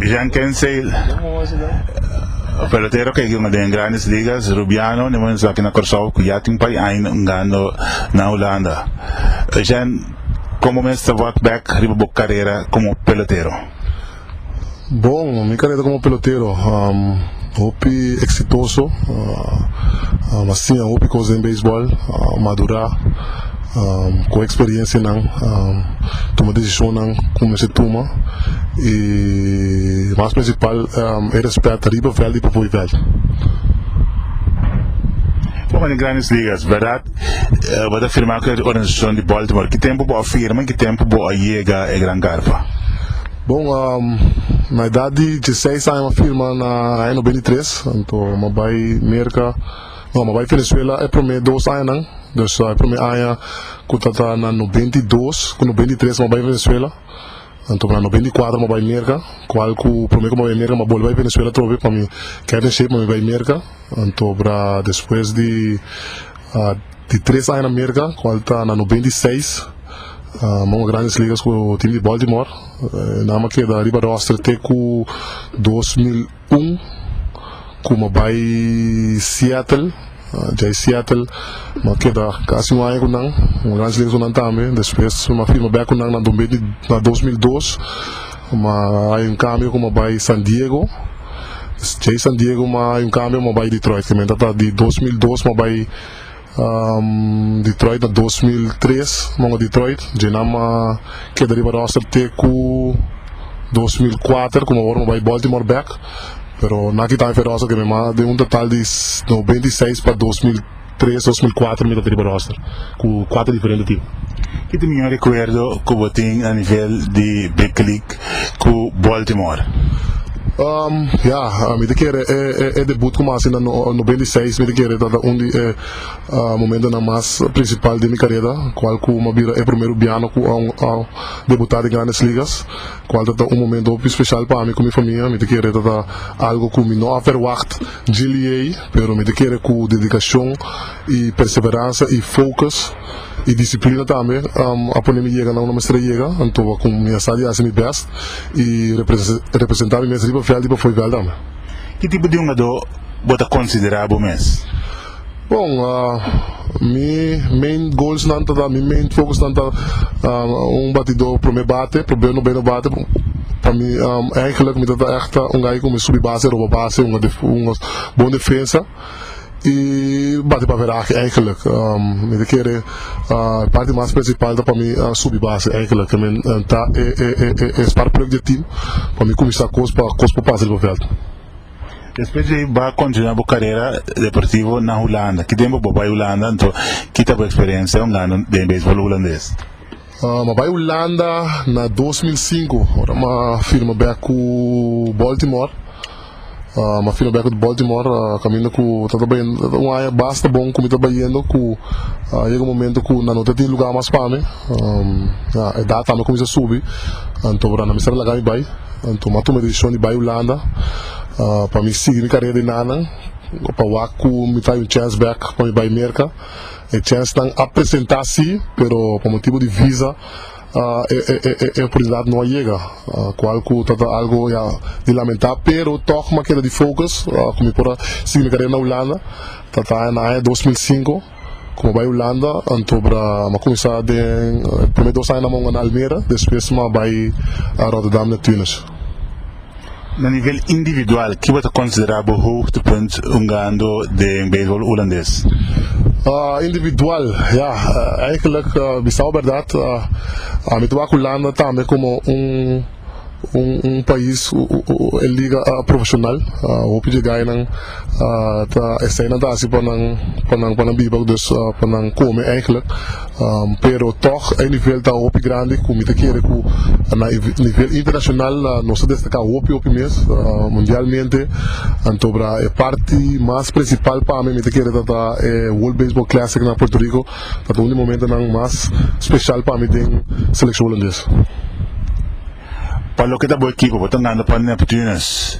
Jean Kenseil, pelotero cu a giga den Grandes Ligas, Rubiano, niman esnan aki na Curacao cu ya tin pay aña jugando na Hulanda. Jean, como mester work back riba bo carera como pelotero? Bon, mi carrera como pelotero hopi exitoso, a siña hopi cos den baseball, madura, coge experiencianan, tuma decisionnan cu mester tuma y mas principal e respet riba veld y p'afuer veld. Bo manda Grandes Ligas, verdad bo ta firma cu e organizacion di Baltimore, ki tempo bo a firma y ki tempo bo a yega e gran carpa? Bon, na edad di dieseis aña m'a firma na aña nobenta i tres. Anto m'a bai Merka, no, m'a bai Venezuela e promé dos añanan. Dus e promé aña ku ta ta na nobenta i dos ku nobenta i tres m'a bai Venezuela. Anto na nobenta i kuater m'a bai Merka, kual ku promé ku m'a bai Merka m'a bolbe bai Venezuela atrobe pa mi keda den shep pa mi bai Merka. Anto despues di. Di tres aña na Merka cual ta na noventa y seis manga Grandes Ligas cu team di Baltimore e naam a keda riba roster te cu dos mil un cu m'a bay Seattle djai Seattle m'a keda casi un aña cu nan manga Grandes Ligas cu nan tambe despues m'a firma back cu nan na dos mil dos m'a hay un cambio cu m'a bay San Diego djai San Diego m'a hay un cambio cu m'a bay Detroit kimen ta ta di dos mil dos m'a bay Detroit na dos mil tres monga Detroit Djenam a keda riba roster te ku dos mil kuater kuma awor mi bai Baltimore bek pero na kita mi fe roster keme mas den un total di noventa i seis pa dos mil tres dos mil kuater mi tabata riba roster ku kuater diferente tim. Kiti mior rekuerdo ku bo tin a nivel di big league? ku Baltimore. Um, ya, mi ta kere e e e debut ku mi a hasi na no noventa i seis, mi ta kere ta ta un di e uh momentonan mas prinsipal di mi karera, kual ku mi a bira e primeru biano ku a a debutá den Grandes Ligas, kual ta ta un momento hopi speshal pa mi ku mi famia, mi ta kere ta ta algu ku mi no a ferwagt djiliey, pero mi ta kere ku dedikashon i perseveransa i focus. Y disciplina tambe a pone mi yega na unda mester a yega, antoa con mi a sa di haci mi best y representa mi mes riba veld y pafoi veld tambe. Ki tipo di hungadó bo ta considera bo mes? Bon, mi main goalsnan ta ta, mi main focusnan ta un batidó prome bate, probeo no bay no bate, pa mi, eigenlijk mi ta ta echt un guy cu mi subi base, roba base, hunga bon defensa. y bati pa verahe eigenlijk mi ta kere parti mas principal ta pa mi subi base eigenlijk ke mi ta e sparkplug di e team pa mi kumisa kos pa kos por pasa riba veld. Despues di bo continua bo carera deportivo na Hulanda, ki tempo bo bay Hulanda, enton ki ta bo experiencia un ano den baseball hulandes? Ma bai Hulanda na dos mil sinku ora ma firma bek ku Baltimore. Ma firma bek ku Baltimore kaminda ku ta ta bayendo un aña basta bon ku mi ta bayendo ku a yega un momento ku nan no ta tin lugá mas pa mi. Ya edat ami a kuminsá a subi anto abará nan mester a laga mi bai. Anto mi a tuma e desishon di bai Hulanda pa mi sigui mi karera di nannan pa wak ku mi ta haya un chèns bek pa mi bai Merka. E chensnan a presenta si, pero pa motibu di visa e oportunidat no a yega, kual ku ta ta algu ya di lamentá, pero tòg m'a keda di focus ku mi por a sigui mi karera na Hulanda, ta ta na aña dos mil sinku ku m'a bai Hulanda, anto m'a kuminsá den e promé dos añanan m'a unda na Almere, despues m'a bai Rotterdam Neptunus. Na nivel individual, kiba ta konsiderá bo hoogtepunt hungando den beibol Hulandes? Individual, ya, eigenlijk bisao berdad ami ta wak Hulanda tambe komo un pais ku e liga profeshonal, hopi jegainan ta esei nan ta hasi pa nan biba, dus pa nan kome, eigenlijk. Pero tòg e nivel ta hopi grandi ku mi ta kere ku na e nivel internashonal nos ta destaká hopi hopi mes mundialmente. Anto bra e parti mas prinsipal pa mi mi ta kere tabata e World Baseball Classic na Puerto Rico, tabata un di momentonan mas speshal pa mi den selekshon holandes. Pa loke ta bo ekipo, bo ta ngando pa Neptunus.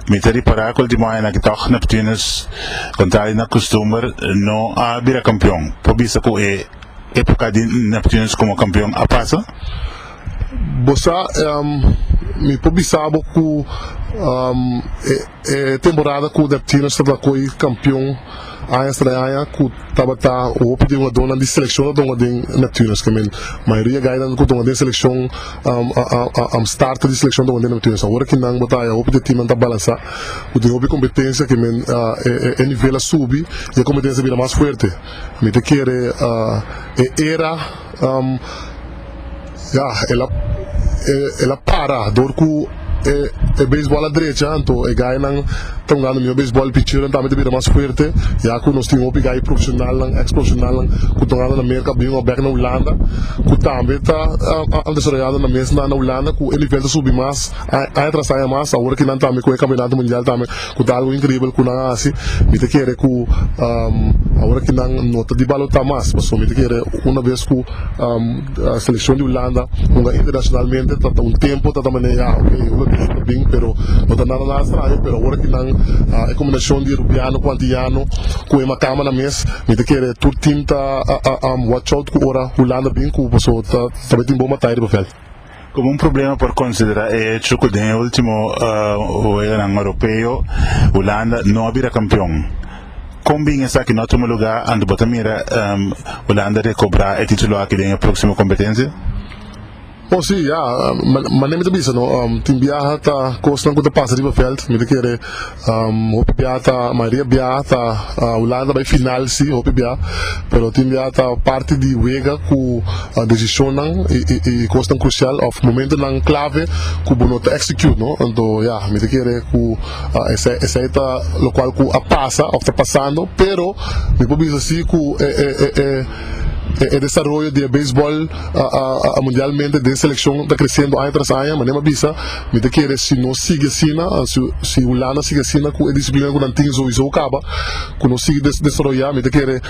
Mi ta ripará ku ultimo añanan ki tòg Neptunus, kontrá di na kustumber, no a bira kampion. Por bisa ku e époka di Neptunus komo kampion a pasa? Bo sa, mi por bisa bo ku e. E temporada ku Neptuners tabata ko'i kampion añas tras aña ku tabata hopi di hungadónan di selekshon a tonga den Neptuners ke men mayoria gainan ku tonga den selekshon a starta di selekshon tonga den Neptuners awor aki nan bo ta haya hopi di e timnan ta balansá ku tin hopi kompetensia ke men e nivel a subi i e kompetensia a bira mas fuerte mi ta kere e era Um, ya, el a, e, el a para dor cu e, e beisbol a drecha, anto e gainan ta jugando mijo beisbol, e picheronan tambe ta bira mas fuerte, ya cu nos tin hopi gai profesionalnan, ex profesionalnan cu ta jugando na Merca bien o bek na Hulanda, cu tambe ta a, a desaroyando na mes na, na Hulanda, cu e nivel ta subi mas, a, aña tras aña mas, awor aki nan tambe cu e campeonato mundial tambe. Cu ta algo incribel cu nan a haci. Mi ta kere cu aora ki nan no ta di balota mas, pasobra mi ta kere una vez cu seleccion di Hulanda hunga internacionalmente ta ta un tempo ta ta manera ya ok e Hulandeso ta bin pero no ta nada nada straño, pero aora ki nan e combinacion di Rubiano cu Antillano cu e macama nan mes mi ta kere tur team ta watch out cu ora Hulanda bin cu pasobra ta ta bai tin bon batalla riba veld. Komo un problema por konsiderá e hecho ku den e último weganan oropeo Hulanda no a bira kampion. Kon bin esaki no a tuma lugá anto bo ta mira Hulanda rekobrá e título aki den e próksimo kompetensia? Oh sí, ya. Mane mi ta bisa no tin biaha ta kosnan ku ta pasa riba vèlt, mi ta kere. Hopi biaha ta mayoria biaha ta Hulanda bai final si hopi biaha pero tin biaha ta parti di wega ku desishonnan i kosnan krusial òf momentunan klave ku bo no ta execute no anto ya mi ta kere ku esei ta lokual ku a pasa òf ta pasando pero mi por bisa si ku e desaroyo di e beisbòl mundialmente den selekshon ta kresendo aña tras aña manera mi a bisa Mi ta kere si nos sigui asina, si Hulanda sigui asina ku e disiplina ku nan tin souiso a kaba, ku no sigui desaroyá, mi ta kere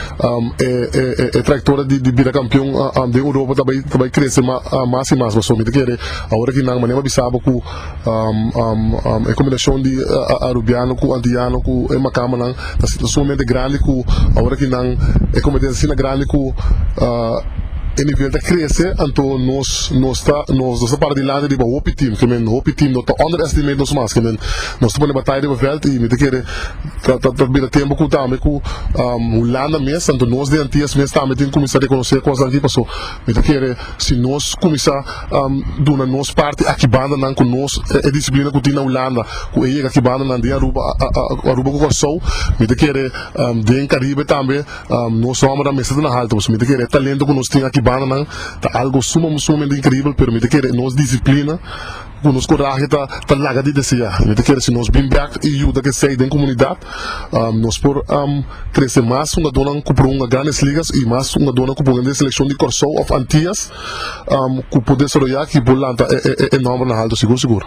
e trayektoria di bira kampion den Europa ta bai krese mas i mas. Pasobra mi ta kere awor aki nan manera mi a bisaba ku e kombinashon di arubiano ku antiyano ku e makamanan Ta sinta sumamente grandi ku ora ki nan e kompetensia ta sinta grandi ku e nivel ta krese anto nos nos ta nos ta para dilanti riba hopi tim ke men hopi tim no ta under estimate nos mas ke men nos ta pone bataya riba veld i mi ta kere ta ta bira tempu ku tambe ku Hulanda mes anto nos di Antias mes tambe tin kuminsá rekonosé kosnan aki paso Mi ta kere si nos kuminsá duna nos parti aki bandanan ku nos e disiplina ku tin na Hulanda ku e yega aki bandanan den Aruba Aruba ku Kòrsou mi ta kere den Karibe tambe nos nòmbernan mester ta na haltu pasobra mi ta kere e talento ku nos tin aki bandanan ta algu suma sumamente inkribel pero mi ta kere nos disiplina Cu nos corahe ta ta laga di desea. Mi ta kere si nos bin bek y yuda ke esey den comunidad, nos por trece mas hungadornan cu por hunga Grandes Ligas y mas hungadornan cu por hunga den seleccion di Corsou of Antillas cu por desaroya aki por lanta e e e nombernan halto sigur sigur.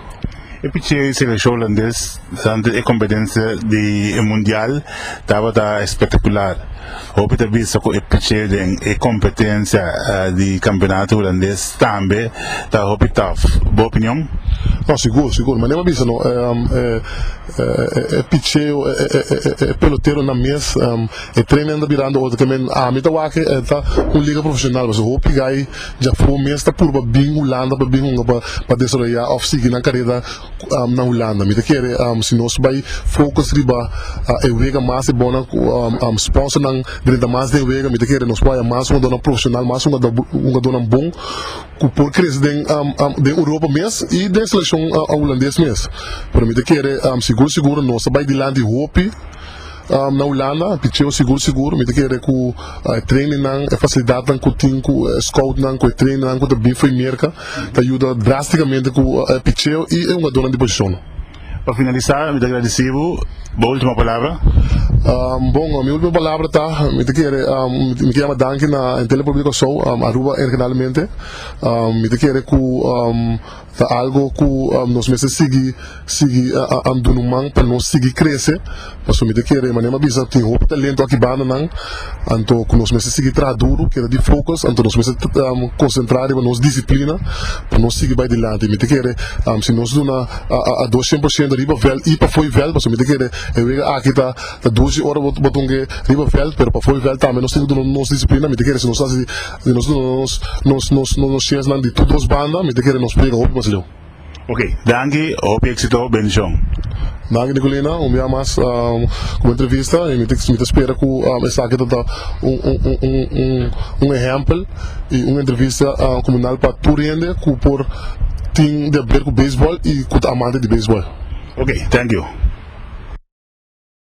E pichia y seleccion Holandes durante e competencia di e Mundial tabata espectacular. Hopi ta bisa cu e picheo den e competencia di campeonato Hulandes tambe ta hopi tough. Bo opinion? No, sigur, sigur. Manera bo a bisa no, e picheo, e peloteronan mes, e training ta birando otro keer. Mi, ami ta wak e ta un liga profesional, pasobra hopi guy djafó mes ta purba bin Hulanda pa bin hunga pa desaroyá of sigui nan carera. na Hulanda. Mi ta kere si nos bai focus riba e wega mas e bona cu sponsornan drenta mas den wega. Mi ta kere nos por haya mas hungadornan profesional, mas hungadornan bon cu por crece den Europa mes y den seleccion Hulandes mes. Pero mi ta kere sigur sigur nos ta bai dilanti hopi. na Hulanda, picheo sigur sigur, mi ta kere ku e trainingnan, e fasilidatnan ku tin ku e scoutnan, ku e trainnan ku ta bin fo'i Merka ta yuda drástikamente ku e picheo i e hungadónan di posishonnan. Pa finalisá mi ta gradisí bo, bo último palabra? Bon, mi último palabra ta, mi ta kere mi ta yama danki na Entel di Republiek di Kòrsou, Aruba en generalmente, mi ta kere ku, Ta algo cu nos mester sigui sigui an dunu man pa nos sigui crece, pasobra mi ta kere, manera mi a bisa, tin hopi talento aki bandanan, anto cu nos mester sigui traha duru, keda di focus, anto nos mester concentra riba nos disciplina pa nos sigui bay dilanti. Mi ta kere si nos duna a dos cien por ciento riba veld y pafoy veld, pasobra mi ta kere e wega aki ta. Ta dushi ora bo tun ke riba veld pero pafo di veld tambe nos tin ke duna nos disiplina mi ta kere si nos hasi si nos duna nos chesnan di tur dos banda mi ta kere nos prega hopi mas leu. Ok danki hopi exito bendicion. Danki Nicolina un bia mas ku bo entrevista y mi ta spera ku esaki ta ta un ehempel y un entrevista ku mi nal pa tur hende ku por tin di haber ku baseball y ku ta amante di baseball. Ok thank you.